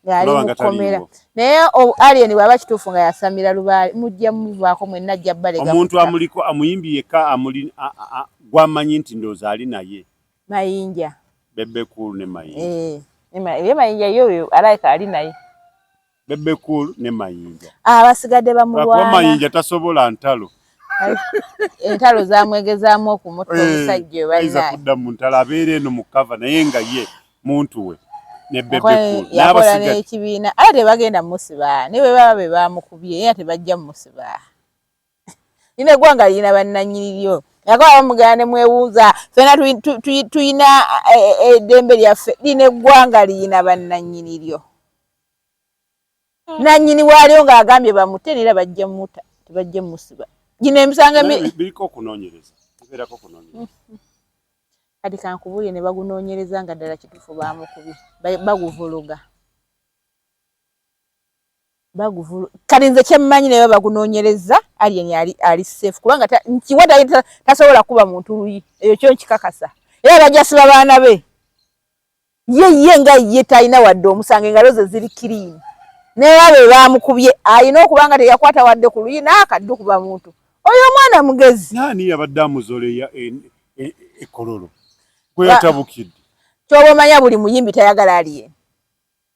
ng'ali mu kkomera naye alien bw'aba kituufu nga yasamira lubaale mujja muvaako mwenna ajja balega omuntu amuliko amuyimbi yekka amuli gwamanyi nti ndoozi ali naye mayinja bebe cool ne mayinja eh, ye mayinja yoyo alaika ali naye bebe cool ne mayinja abasigadde ah, bamulwana mayinja tasobola ntalo entalo zamwegezaamu okumutta eh, omusajja oba ayinza kudda mu ntalo abeera eno mu kava naye nga ye muntu we nakola nekibiina ate tebagenda musiba ne bwebaba be bamukubye era tebajja musiba nina eggwanga lirina bannanyiriryo nakola bamugana ne mwewuuza fena tulina e, e, eddembe lyaffe lina eggwanga lirina bannanyiriryo nanyini waalio nga agambye bamute nera bajja muta tebajja musiba gino emisanga biriko okunonyereza iberako okunonyereza kati kankubulire ne bagunonyereza nga ddala kitufu bamukubi baguvuluga baguvulu kati nze kyemmanyi naye bagunonyereza alien ali ali safe kubanga nkiwa tasobola kuba muntu luyi eyo kyo nkikakasa era bajasiba baana be ye ye nga ye talina wadde omusango engalo ze ziri kiriini naye abe baamukubye alina okuba nga teyakwata wadde ku luyi n'akaddu kuba muntu oyo omwana mugezi naani yabadde amuzoleya ekololo gwe yatabukidde kyoba omanya buli muyimbi tayagala aliye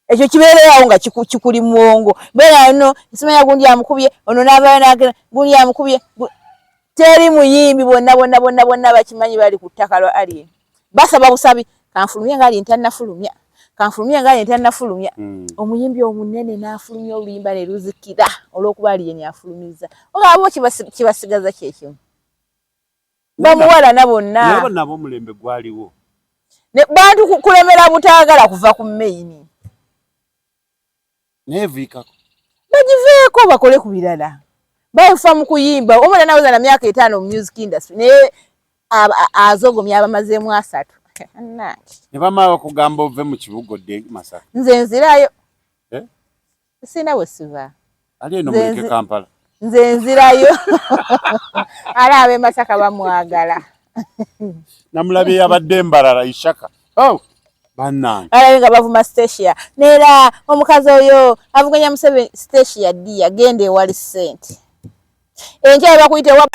ekyo kibeereawo nga kikuli muwongo beera no simanya gundi amukubye ono n'abayo nagera gundi amukubye teri muyimbi bonna bonna bonna bonna bakimanyi bali ku ttaka lwa aliye basaba busabi kanfulumye nga ali ntannafulumya kanfulumye nga ali ntannafulumya hmm. omuyimbi omunene n'afulumya oluyimba ne luzikira olw'okuba ali yeni afulumizza ogabo kibasigaza kyekimu bamuwalana bonna nabo omulembe gwaliwo bantu kulemera butaagala kuva ku meyini naye viikako bagiveeko bakole ku birala baefa mu kuyimba omwana nawoza na myaka etaano mu music industry naye azogomya abamazeemu asatu ne bamala okugamba ove mu kibuga odde masaka nze nzirayo eh? sirina bwe siva ali eno muleke kampala nze nzirayo ala abe masaka bamwagala namulabye yabadde mbarara ishaka oh. banaalabe nga bavuma stacia neera omukazi oyo avuganya museveni stacia dia genda ewali sente enkya bakuyita ewa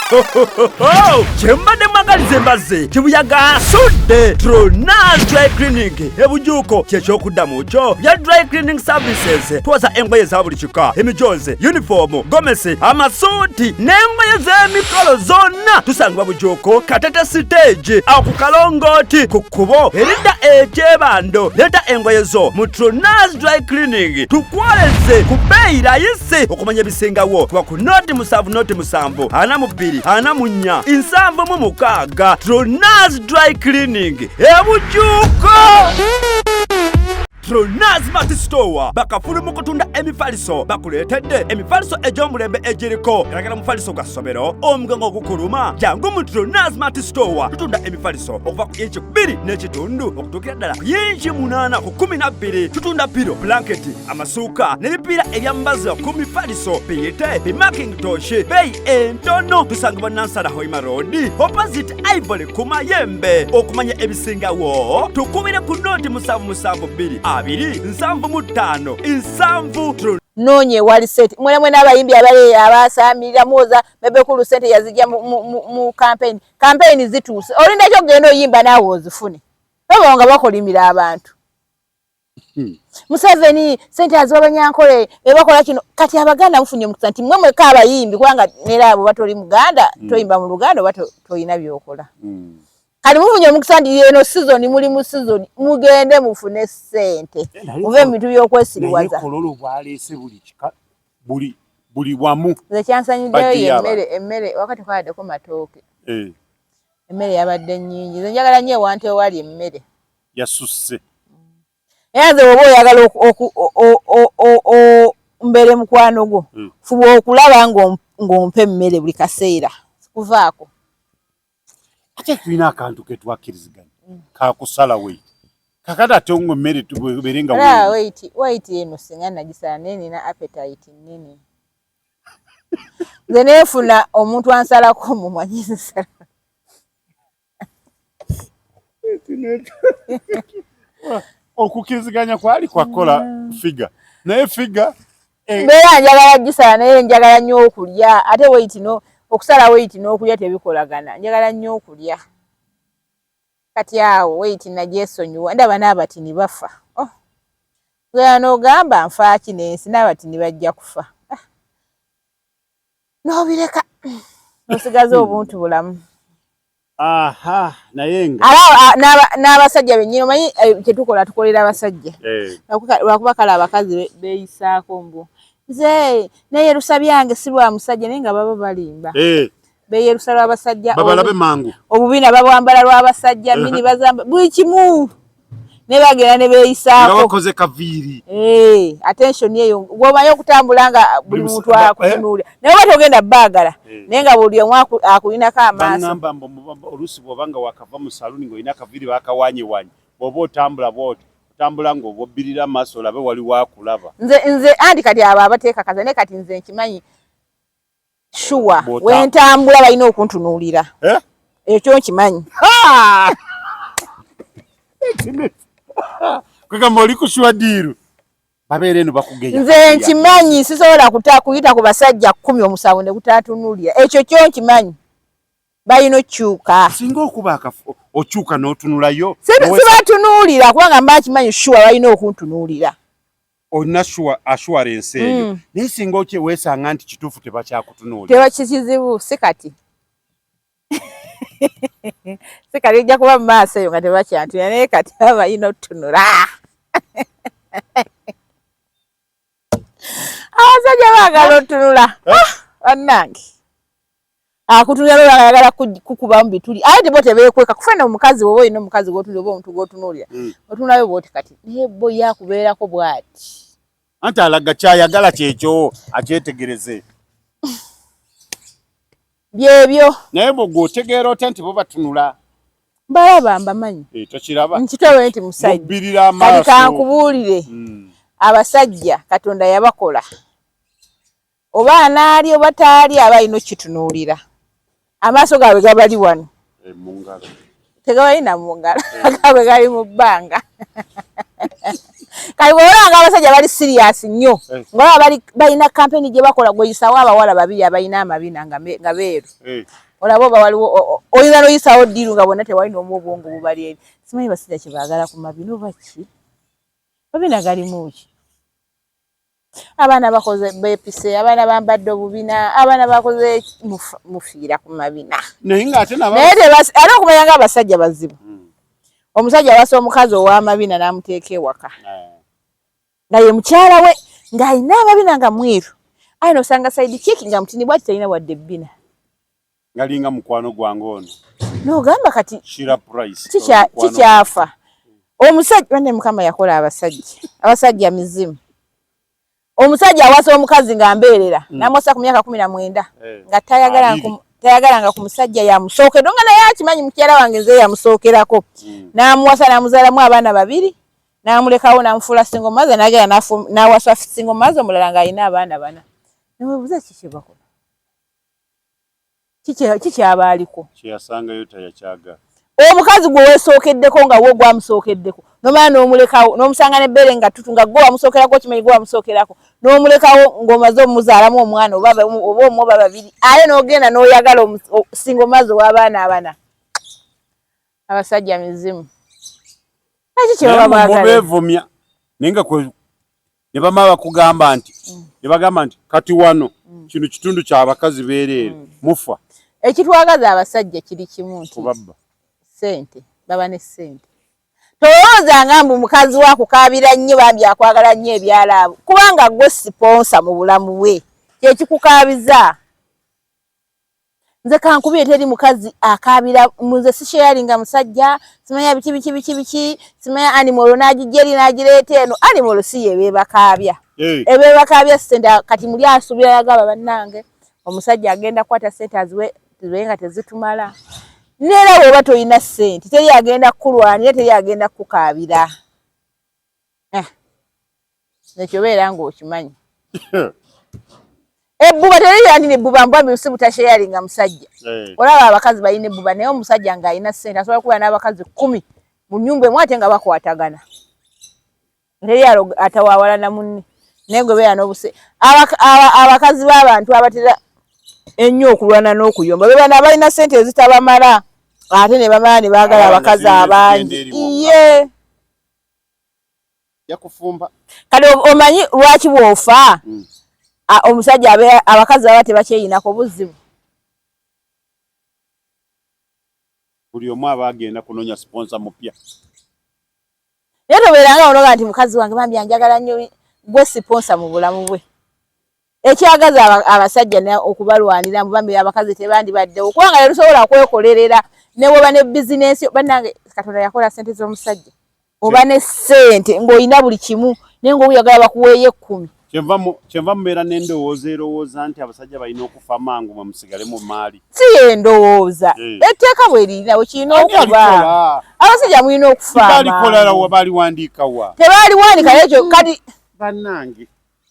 oh, kyembadde mwagalize mbazze kibuyaga asudde tronan dry clinic ebujuuko kyekyokuddamu kyo bya dry cleaning services twoza engoye za buli emikka emijoozi yunifoomu gomesi amasuuti n'engoye z'emikolo zonna tusangibwa bujuuko katete siteegi aku kalongooti ku kkubo eridda ekyebando leeta engoye zo mu trunas dry cleaning tukwoleze ku bbeeyi layisi okumanya ebisingawo kuba ku nooti musanvu nooti musanvu ana mu bbiri ana mu nnya nsanvu mu mukaaga trunas dry cleaning ebujuuko Pronaz Mart Store bakafulu mu kutunda emifaliso bakuleetedde emifaliso egy'omulembe egiriko galagala omufaliso gwa ssomero omugongo ogukuluma jangu mu Pronaz Mart Store tutunda emifaliso okuva ku inchi bbiri n'ekitundu okutuukira ddala ku inchi munaana ku kumi na bbiri tutunda piro blanketi amasuuka n'ebipiira ebyambaza ku mifaliso biyite bimakingitoshi beeyi entono tusangibwa nansala hoima road opposite ivory ku mayembe okumanya ebisingawo tukubire ku nooti musanvu musanvu bbiri abiri nsanvu mu ttaano nsanvu noonye wali sente mwena mwena abayimbi abale abasamirira muwoza bebe kulu sente yazija mu, mu, mu, mu campaign campaign zituuse olinda kyo genda oyimba nawe ozifune baba nga bakolimira abantu Hmm. Museveni sente aziwa banyankole ebakola kino kati abaganda mufunye omukisa nti mwe mweka abayimbi kubanga neera abo batoli muganda hmm. toyimba mu luganda oba tolina byokola hmm. kati mufunye omukisa nti eno sizoni muli mu sizoni mugende mufune sente muve mu bintu byokwesiriwaza buli wamu nze kyansanyiddeyo yemmere emmere wakati kwaladeko matooke eh. emmere yabadde nyingi nze njagala nyo ewantewali emmere yasusse era nze woba oyagala mbeere mukwano gwo hmm. fuba okulaba ng'ompa emmere buli kaseera kuvaako ate tulina akantu ketwakkiriziganya hmm. kakusala wait kakati ate ngo emmere tubeere nga wait wait eno singa nagisala naye nina appetite nnene nze neefuna omuntu ansalako mumanyinsa okukiriziganya kwali kwakola mm. figa naye figa eh, mbeera njagala gisala naye njagala nnyo okulya ate weiti no okusala weiti n'okulya tebikolagana njagala nnyo okulya kati awo weiti nagyesonyiwa ndaba n'abatini bafa oh. gera n'ogamba nfaaki n'ensi n'abatini bajja kufa nobireka osigaza hmm. obuntu bulamu n'abasajja benyini omanyi eh, kyetukola tukolera abasajja eh. lwakuba kale abakazi beyisaako mbu nze neyerusa byange si lwa musajja naye nga baba balimba eh. beyerusa lwabasajja babalabe mangu obubina babwambala lwabasajja mini bazamba buli kimu nebagenda nebeyisakokoze kaviiri eh, attention eyo gwomanyi okutambula nga buli muntu akutunuulira eh? naye oba togenda baagala eh. naye nga buli omu akulinako amaasoamba oluusi bwoba nga wakava mu saluuni ngaolina kaviiri bakawanyewanye bwoba otambula bwoti otambula ngaobobbirira amaaso olabe wali wakulaba nze nze andi kati abo abateekakaza naye kati nze nkimanyi shuwa wentambula balina okuntunuulira eh? ekyo nkimanyi kwegamba oli kushuwa diiru babeere no bakugeya nze nkimanyi sisobola kuyita ku basajja kumi omusango ne gutatunulira ekyo kyo nkimanyi balina okyuka singa okuba okyuka n'otunulayo sibatunulira kubanga mba nkimanyi shuwa balina okuntunuulira olina assurance eyo mm. naye singa okyewesanga nti kituufu tebakyakutunuulira teba kikizibu si kati si kati ojja kuba mu maaso eyo nga tebakyantuya naye kati abayina otutunula abasajja baagala otunula eh? ah, bannange akutunulira lwera ayagala kukubamu bituli aye tebo tebekweka kufena omukazi woba olina omukazi gwotunulira oba omuntu gwotunulira hmm. otunulayo bwoti kati naye bo yakubeerako bwati anti alaga kyayagala kyekyo akyetegereze byebyo naye bwe gwotegeera otya nti bo batunula balaba mbamanyi eh, tokiraba nkitewe nti musajja kati kankubuulire hmm. abasajja katonda yabakola oba anaalya oba taalya aba alina okukitunuulira amaaso gaabwe gabali wano eh, tegabalina mu ngalo eh. gaabwe gali mu bbanga kati bwolanga abasajja bali siriyasi nnyo eh. ngaolaba balina kampeni gye bakola gweyisawo abawala babiri abalina amabina nga beeru olaba oba waliwo oyinza noyisawo ddiiru nga bonna tewalina omu obwongo bubali eri simanyi basajja kyebaagala ku mabina oba ki mabina galimu ki abaana bakoze bepise abaana bambadde obubina abaana bakoze mufiira ku mabina naye era okumanya nga abasajja bazibu hmm. omusajja awasa omukazi ow'amabina n'amuteeka ewaka eh. nga ye mukyala we ng'alina amabina nga mwiru aye nosanga saidi kiki nga mutini bwati talina wadde ebbina ngalinga mukwano gwange ono nogamba kati kikyafa omusajja bane mukama yakola abasajja abasajja mizimu omusajja awasa omukazi nga mbeerera hmm. namwasa ku myaka kumi na mwenda eh. nga tayagalanga ku musajja yamusookera nga naye akimanyi mukyala wange nze yamusookerako hmm. namuwasa namuzaalamu abaana babiri namulekawo namufuula singo maze nagera nawasa singo maze omulala nga alina abaana bana newebuza kikyebakola kikyaba aliko kyeyasangayo tayakyaga omukazi gwe wesookeddeko nga wo gwamusookeddeko nomala n'omulekawo n'omusanga n'ebbeere nga ttutu nga gwe wamusookerako okimanyi gwe wamusookerako n'omulekawo ng'omaze omuzaalamu omwana oba omu oba babiri aye n'ogenda n'oyagala singa omazi ow'abaana abana abasajja mizimu eki kyebaba baagala mubevumya naye nga ne bamala bakugamba nti mm. ne bagamba nti kati wano mm. kino kitundu kya bakazi beereere mm. mufa ekitwagaza abasajja kiri kimu nti kubabba ssente baba ne ssente tolowooza nga mbu mukazi wa kukaabira nnyo bambi akwagala nnyo ebyalaabo kubanga gwe siponsa mu bulamu bwe kyekikukaabiza nze kankubire teri mukazi akaabira nze sisheyalinga musajja simanya biki biki biki biki simanya animolo n'agijja eri n'agireeta eno animolo si ye beebakaabya eh. ebeebakaabya sente kati muli asuubira yagaba bannange omusajja agenda kukwata sente aziwe zibe nga tezitumala neera bw'oba tolina sente teri agenda kukulwanira teri agenda kukukaabira ah. nekyo beera ng'okimanyi ebbuba terirandi nebbuba mbwa bisi butasheyaringa nga musajja eh. olaba abakazi balina ebbuba naye omusajja ng'alina ssente asobola kubeera n'abakazi kkumi mu nyumba emu ate nga bakwatagana teri atawawalana munne naye gwe beera n'obuse abakazi b'abantu abatera ennyo okulwana n'okuyomba bebana balina ssente ezitabamala ate ne bamala ne baagala abakazi abangi iye yakufumba kale omanyi lwaki bwofa mm. omusajja abakazi baba tebakyeyinako buzibu buli omu aba agenda kunonya siponsa mupya naye tobeeranga onoga nti mukazi wange bambi anjagala nnyo gwe siponsa mu bulamu bwe ekyagaza abasajja okubalwanira mu bambi abakazi tebandibaddewo kubanga tetusobola kwekolerera neweba ne bizinensi banange katonda yakola sente z'omusajja oba ne sente ng'olina buli kimu naye nga oyagala bakuweeyo ekkumi kyenva mubeera n'endowooza erowooza nti abasajja balina okufa mangu mwe musigale mu maali si endowooza eh. etteeka bwe lirinawo kirina okuba abasajja mulina okufa balikola wa baliwandiika wa tebaliwandika ekyo kati bannange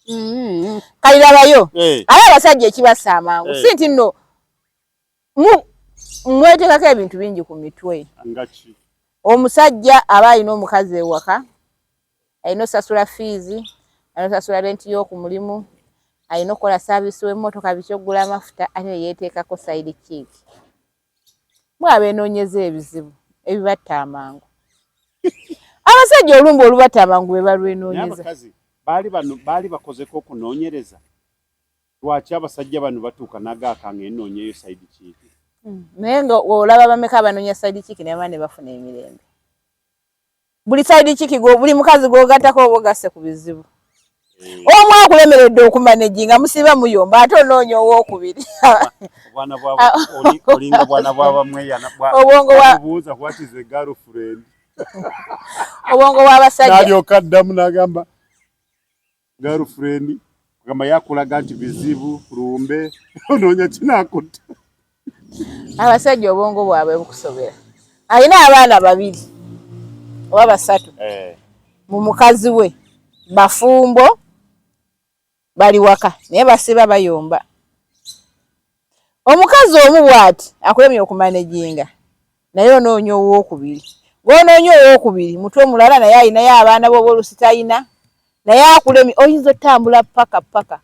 Mm-hmm. kalilabayo eh. aye abasajja ekibassa amangu eh. si nti nno mwetekako ebintu bingi ku mitwe omusajja aba alina omukazi ewaka alina osasula fiizi alina osasula renti y'oku mulimu alina okukola saavisi w'emmotoka biki okugula amafuta ate yeyeteekako saidi kiiki mwe abeenoonyeza ebizibu ebibatta amangu abasajja olumba olubatta amangu be balwenoonyeza baali bano baali bakozeko okunoonyereza lwaki abasajja bano batuuka nagaaka nga enoonyeyo saidi kiiki hmm. naye nga olaba bameka abanoonya saidi kiiki nebaba ne bafuna emirembe buli side kiki go buli mukazi gogatako obogase ku bizibu eh. omu akulemeredde okumaneji nga musiba muyomba ate onoonya owokubiri obwongo bwabasajja girlfriend kugamba yakulaga nti bizibu lumbe onoonya kinakutta abasajja obwongo bwabwe bukusobera alina abaana babiri oba basatu eh. mu mukazi we bafumbo bali waka naye basiba bayomba omukazi omu bwati akulemye okumanejinga naye onoonya owokubiri gwonoonya owokubiri mutwe mulala naye alinayo abaana boba olusi talina naye akulemye oyinza otambula paka paka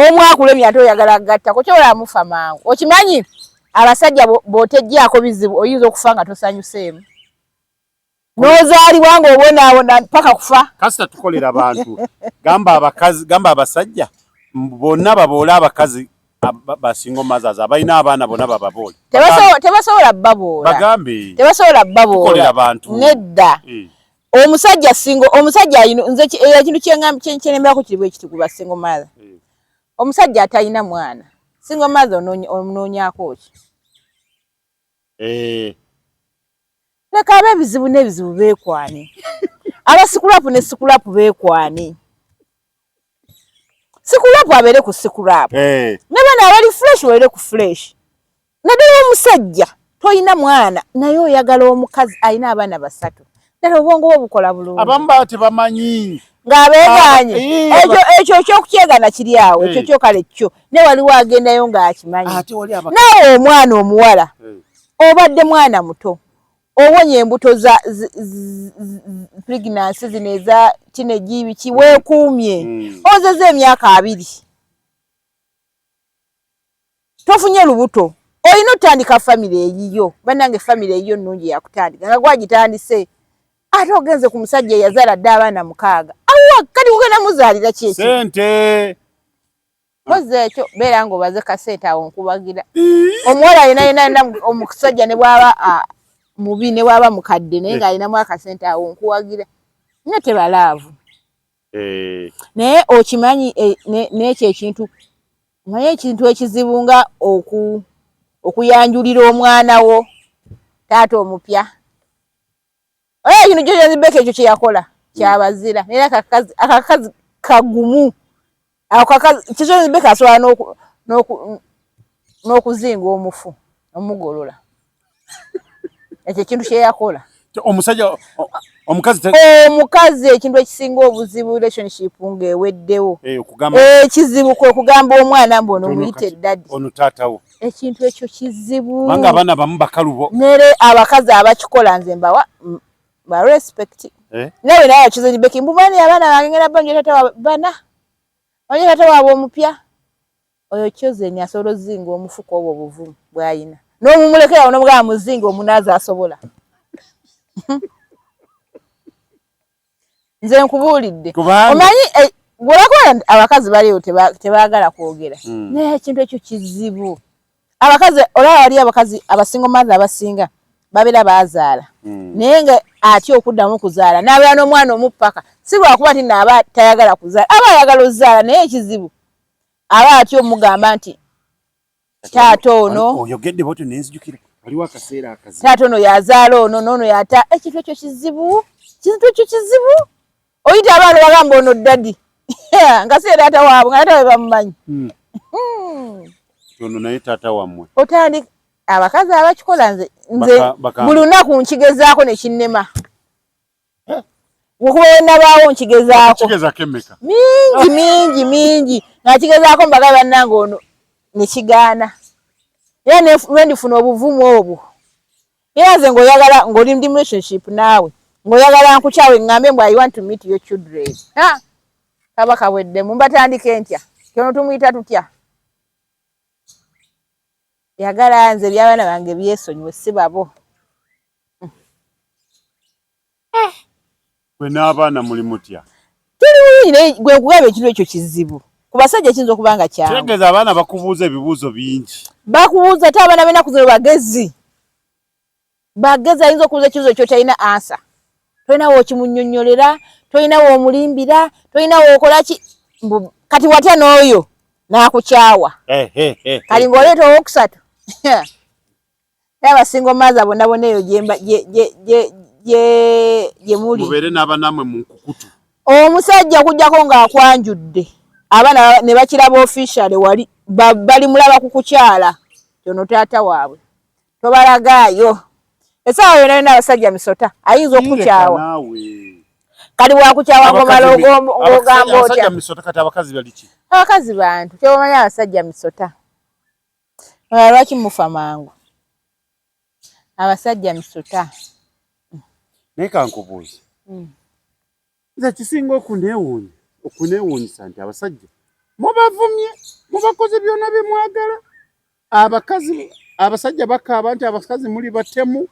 omu akulemye ate oyagala agattako kyola amufa mangu okimanyi abasajja botejjaako bizibu oyinza okufa nga tosanyuseemu nozaalibwa ng'obonaabona mpaka kufa kasita tukolera abantu gamba abakazi gamba abasajja bonna baboola abakazi basinga omazazi abalina abaana bona bababoole tebasobola baboola bagambe tebasobola baboola abantu nedda eh. omusajja singo omusajja ayino nze ekintu kyenemberako kiri bwekiti kuba singo mother eh. omusajja atalina mwana singo mother onoonyaako ki eh. leka abe ebizibu n'ebizibu beekwane aba sikulapu ne sikulapu beekwane sikulapu abeere ku sikulapu eh. ne bana abali fureshi babeere ku fureshi naddala omusajja tolina mwana naye oyagala omukazi alina abaana basatu ddala obwongo bwe bukola bulungi abamu baba tebamanyi ng'abeegaanye ah, ekyo ekyo ekyokukyegana kiri awo ekyo eh. kyokale kyo ne waliwo agendayo ng'akimanyi naawe omwana omuwala eh. obadde mwana muto owonye embuto za pregnancy zino eza tineji biki mm. weekuumye mm. ozeza emyaka abiri tofunye lubuto olina otandika famire eyiyo banange famire eyiyo nungi yakutandika nga gwagitandise ate ogenze ku musajja eyazala dde abaana mukaaga awa kati kugenda muzaalira kyekyo mpozi ekyo beera nga obaze kasente awo nkubagira omuwala alina yina yina omusajja ne bwaba mubi ne bwaba mukadde naye nga alinamu akasente awo nkuwagira nyo tebalaavu eh. naye okimanyi eh, nekyo ekintu naye ekintu ekizibu nga oku okuyanjulira omwana wo taata omupya Oyo kino kyo kyanzi beka ekyo kye yakola kyabazira naye akakazi akakazi kagumu ako kakazi kyo kyanzi beka asobola n'oku n'oku n'okuzinga omufu omugolola ekyo ekintu kye yakola omusajja omukazi omukazi ekintu ekisinga obuzibu relationship ng'eweddewo eh, ekizibu kwe kugamba omwana mbu ono muyite eddadi ono taatawo ekintu ekyo kizibu banga abana bamu bakalubo nere abakazi abakikola nze mbawa ba respect eh nawe nawe kizo ni beki mbubani abana bangera banje tata bana banje tata wabo omupya oyo kyoze ni asoro zingo omufuko obo buvu bwayina no mumulekera ono bwa muzingo omunaza asobola nze nkubuulidde omanyi eh, gwebakola abakazi baliwo tebagala kwogera hmm. naye ekintu ekyo kizibu abakazi olaba wali abakazi abasingo mathe abasinga babeera bazaala hmm. naye nga atya okuddamu okuzaala nabeera n'omwana omupaka si lwakuba ti naaba tayagala kuzaala aba ayagala ozaala naye ekizibu aba atya omugamba nti taata ono oyogedde bwotyo nenzijukira waliwo akaseera akazi taata ono yazaala ono noono yata ekintu ekyo kizibu kintu ekyo kizibu oyita abaana bagamba ono dadi nga si taata waabwe nga taata webamumanyi hmm. hmm. ono naye taata wammwe otandika abakazi abakikola nze nze buli lunaku nkigezaako nekinnema okuba wenabaawo nkigezaako mingi mingi mingi nakigezaako mbaga bannange ono nekigaana era lwendifuna obuvumu obwo era nze ngaoyagala ngaoli mdi relationship naawe ngaoyagala nkukyawe ngambe mbu i want to meet your children kaba kabweddemu mbatandika entya kyono tumuyita tutya yagala nze ebyabaana bange byesonyiwe si babo Eh. Gwe n'abaana muli mutya? Tuli bulungi naye gwe nkugamba ekintu ekyo kizibu. Ku basajja kiyinza okuba nga kyangu. Kitegeeza abaana bakubuuza ebibuuzo bingi. Bakubuuza ate abaana b'ennaku zino bagezi. Bagezi ayinza okubuuza ekibuuzo kyotalina ansa. Tolina wookimunnyonnyolera, tolina woomulimbira, tolina wookola ki. Kati watya n'oyo n'akukyawa. Eh, eh, kati ng'oleeta owookusatu. era abasingo maaza bona bona eyo gye muli mubeere n'abanaamwe mu nkukutu omusajja okujjako ng'akwanjudde abaana ne bakiraba officiale wali bali mulaba ku kukyala kyono taata waabwe tobalagaayo esaawa yona yona abasajja misota ayinza okukukyawa kali wakukyawa ngomala ogamba otya abakazi bantu kyobamanyi abasajja misota Oba lwaki mufa mangu abasajja misuta. Naye kankubuuzi mm. nze kisinga okunewuunya okunewuunyisa nti abasajja mubavumye mubakoze byona byemwagala abakazi abasajja bakaaba nti abakazi muli batemu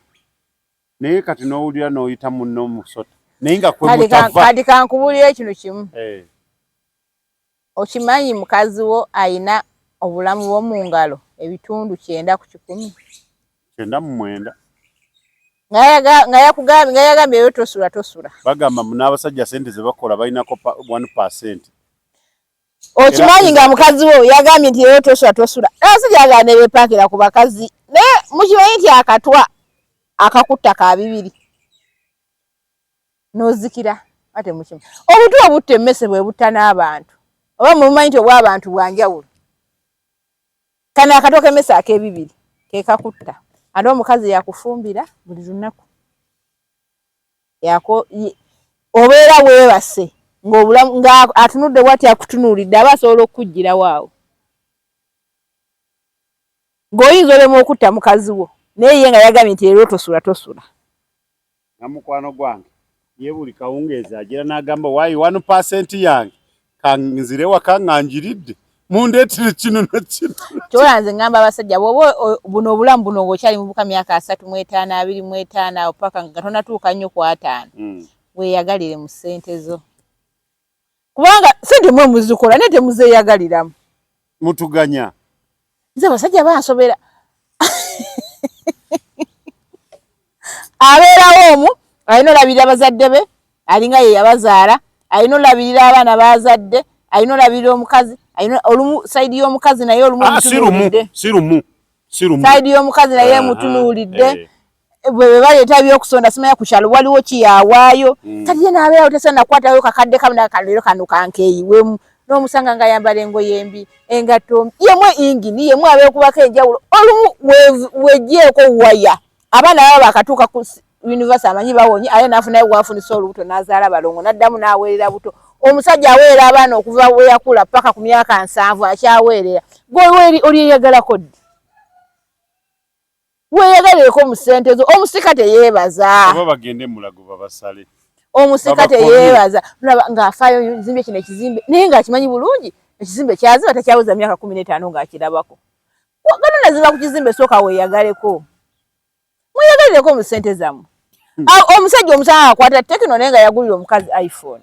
naye kati nowulira noyita munno omusota naye nga kwemutava kati kankubulire kino kimu hey. Eh. Okimanyi mukazi wo alina obulamu bwo mu ngalo ebitundu kyenda ku kikumi? Kyenda mu mwenda. Nga yakugambye nga yagambye yo tosula tosula. Bagamba mu n'abasajja sente ze bakola balinako one percent. Okimanyi nga mukazi wo yagambye nti yo tosula tosula. Abasajja bagala ne bepankira ku bakazi naye mukimanyi nti akatwa akakutta ka bibiri. n'ozikira ate mukima obutu obutta emmese bwe butta n'abantu oba mwemumanyi nti obw'abantu bwa njawulo kano akato k'emmese ak'ebibiri ke kakutta ate omukazi yakufumbira buli lunaku yako obeera weebase ng'obulamu nga atunudde bwati akutunuulidde aba asobola okukuggyirawo awo ng'oyinza olemu okutta mukazi wo naye ye nga yagambye nti era otosula tosula na mukwano gwange ye buli kawungeezi agira n'agamba wayi wanu pasenti yange kanzire waka nga njiridde mundeetire kino na kino kyola nze ngamba abasajja bwoba buno obulamu buno ngaokyali mubuka myaka asatu mu etaano abiri mu etaano awo paka nga tonatuuka nnyo ku ataano hmm. weeyagalire mu ssente zo kubanga sente mwe muzikola naye temuzeeyagaliramu mutuganya nze abasajja bansobera abeerawo omu alina olabirira bazadde be alinga ye yabazaala alina olabirira abaana bazadde alina olabirira omukazi alina olumu sayidi y'omukazi naye olumu ah, si lumu si lumu si lumu sayidi y'omukazi naye ah, mutunuulidde ah, eh. bwebaleeta ebyokusonda simanya ku kyalo waliwo kiyawaayo mm. kati ye naabeerawo tesa nakwatayo kakadde kamu naga kano leero kano kankeeyiwemu n'omusanga nga yambala engoye embi engatto mbi yemu engini yemu abeekubako enjawulo olumu wegyeeko waya abaana baba bakatuuka ku univesity amanyi bawonye aye naafunayo wafunisa olubuto n'azaala balongo n'addamu n'aweerera buto omusajja aweerera abaana okuva we yakula paka ku myaka nsanvu akyaweerera gwe oli eyagalako ddi Weyagaleko mu sente zo omusika teyebaza. Oba bagende mulago babasale. Omusika teyebaza. Laba nga afayo zimbe kine kizimbe. Naye nga akimanyi bulungi ekizimbe kyaziba takyaweza myaka 15 nga akirabako. Wagana naziba ku kizimbe soka weyagaleko. Weyagaleko mu sente zamu. Hmm. Ah, omusajja omusanga akwata tekino naye nga yagulira omukazi iPhone.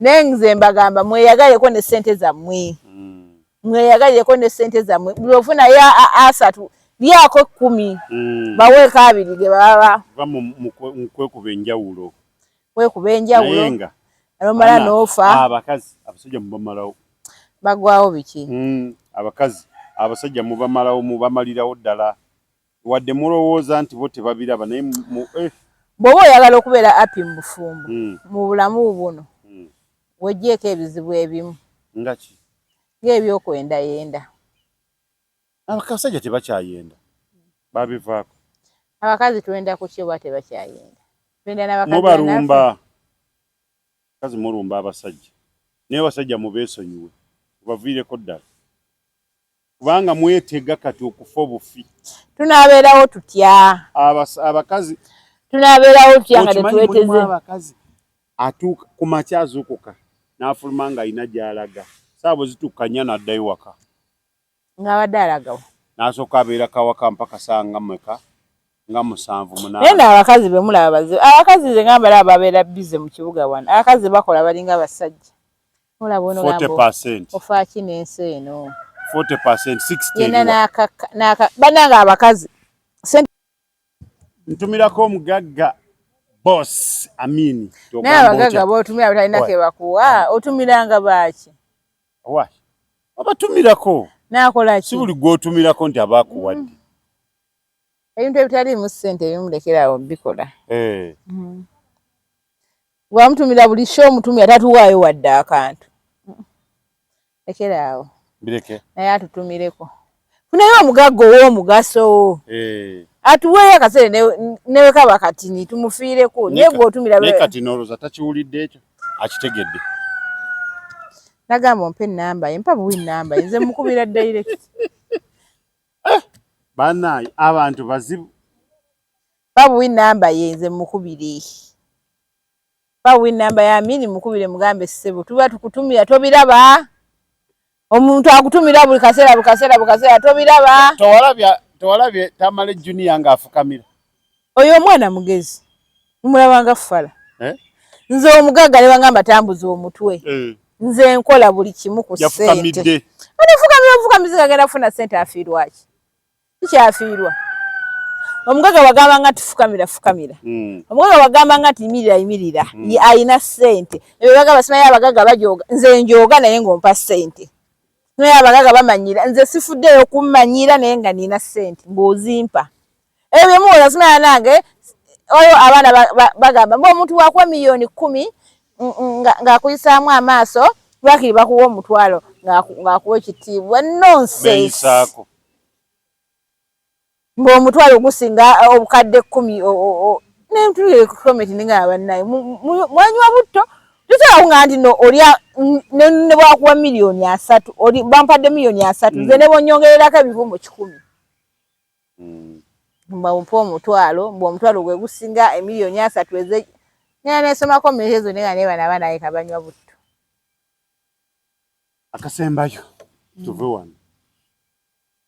naye nze mbagamba mweyagaleko ne sente zammwe mm. mweyagaleko ne sente zammwe buli ofuna ya asatu lyako ekkumi mm. baweeko abiri ge baba kwekuba enjawulo kwekuba enjawulo nga nomala noofa ah, abakazi abasajja mubamalawo bagwawo biki mm, abakazi abasajja mubamalawo mubamalirawo ddala wadde mulowooza nti bo tebabiraba naye mu eh. bwoba oyagala okubeera api mu bufumbo mm. mu bulamu buno mm. wejjeeko ebizibu ebimu ngaki ng'ebyokwendayenda abakasajja tebakyayenda babivaako abakazi twenda ku kyoba tebakyayenda twenda nabakamubalumba kazi mulumba abasajja naye abasajja mubeesonyiwe obaviireko ddala kubanga mwetega kati okufa obufi tunabeerawo tutya abakazi tunabeerawo tutya nga tetweteze abakazi atuuka ku makya azuukuka n'afuluma nga alina gy'alaga saabo zitukkanya n'addayo waka ng'abadde alagawo n'asooka abeera kawaka mpaka saa nga mweka nga musanvu munaaye abakazi be mulaba bazibu abakazi ze ngamba laba babeera bize mu kibuga wano abakazi bakola balinga abasajja olaba ono ogambo ofaaki n'ensi eno yena n'akakka banange abakazi ntumirako omugagga boss amini naye abagagga botumira butalina kebakuwa otumiranga baaki obatumirako nakolaki si buli gwotumirako nti abakuwadde mm. ebintu ebitaliimu ssente ebimu lekerawo bikola eh. mm. Wamutumira buli show omutumira tatuwaayo wadde akantu. Ekeraawo. Bireke. Naye atutumireko. Funayo omugagga ow'omugaso. Eh. Atuweeyo akasere newe kaba katini tumufiireko naye gwe otumira lwe. Naye kati noloza takiwulidde ekyo akitegedde. Nagamba ompe ennamba ye mpa buwi nnamba ye nze mukubira direct. Eh, Banaye abantu bazibu. Babuwi number ye nze mukubire. Babuwi number ya mini mukubire mugambe sebo tuba tukutumira tobiraba. Omuntu akutumira buli kasera buli kasera buli kasera tobiraba. Towalabya towalabye tamale junior nga afukamira. Oyo omwana mugezi. Mumulaba nga fala. Eh? Nze omugaga ne bangamba tambuza omutwe. Eh. Nze nkola buli kimu ku sente. Yafukamide. Ani fukamira fukamizi kagera funa sente afirwaki. tukyafiirwa omugaga wagamba nga tifukamira fukamira hmm. omugaga wagamba nga tiyimirira yimirira hmm. alina sente ebyo bagamba simayo abagaga bajoga nze njoga naye ngaompa sente naye abagaga bamanyira nze sifuddeyo kummanyira naye nga nina sente ngaozimpa ebyo byemuwola simaya nange oyo abaana bagamba mba omuntu wakuwa miliyoni kumi ng'akuyisaamu amaaso bakiri bakuwa omutwalo ng'akuwa ekitiibwa nonsense ng'omutwalo gusinga obukadde kkumi nentukometininga abannaye mwanywa butto tosobola kuŋa nti no olya ne bwakuwa miliyoni asatu bampadde miliyoni asatu nze mm. ne bonyongererako ebivumbo kikumi mm. mbampa omutwalo mbu omutwalo gwe gusinga emiliyoni asatu eze nena nesomako meezo nenga nebana banaye kabanywa butto Akasembayo mm. tuve wano.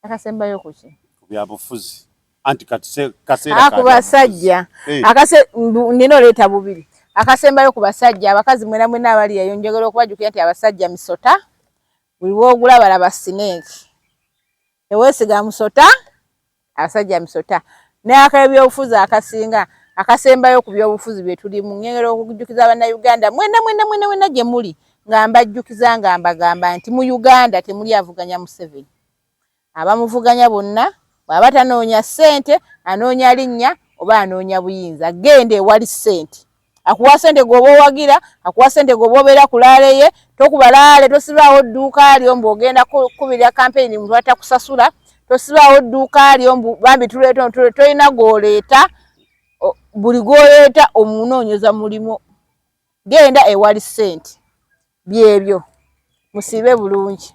Akasembayo kuki? Byabufuzi. Anti katse kasera ah, ka. Akubasajja. Hey. Eh. Akase nino leta bubiri. Akasembayo ku basajja abakazi mwena mwena abali yayo njogera okubajukira nti abasajja misota. Wiwo ogula bala basineki. Ewesiga musota. abasajja misota n'akebyobufuzi akasinga akasembayo ku byobufuzi bye tulimu ngengera okujjukiza bannayuganda mwena mwena mwena mwena gye muli nga mbajjukiza nga mbagamba nti mu uganda temuli avuganya museveni abamuvuganya bonna bw'aba tanoonya ssente anoonya linnya oba anoonya buyinza genda ewali ssente akuwa sente gwoba owagira akuwa sente gwoba obeera ku laale ye tokuba laale tosibaawo dduuka lyo mbu ogenda kukubirira kampeyini muntu atakusasula tosibaawo dduuka lyo mbu bambi tuleeta tolina gwoleeta buli gwoleeta omunoonyeza mulimu genda ewali sente byebyo musiibe bulungi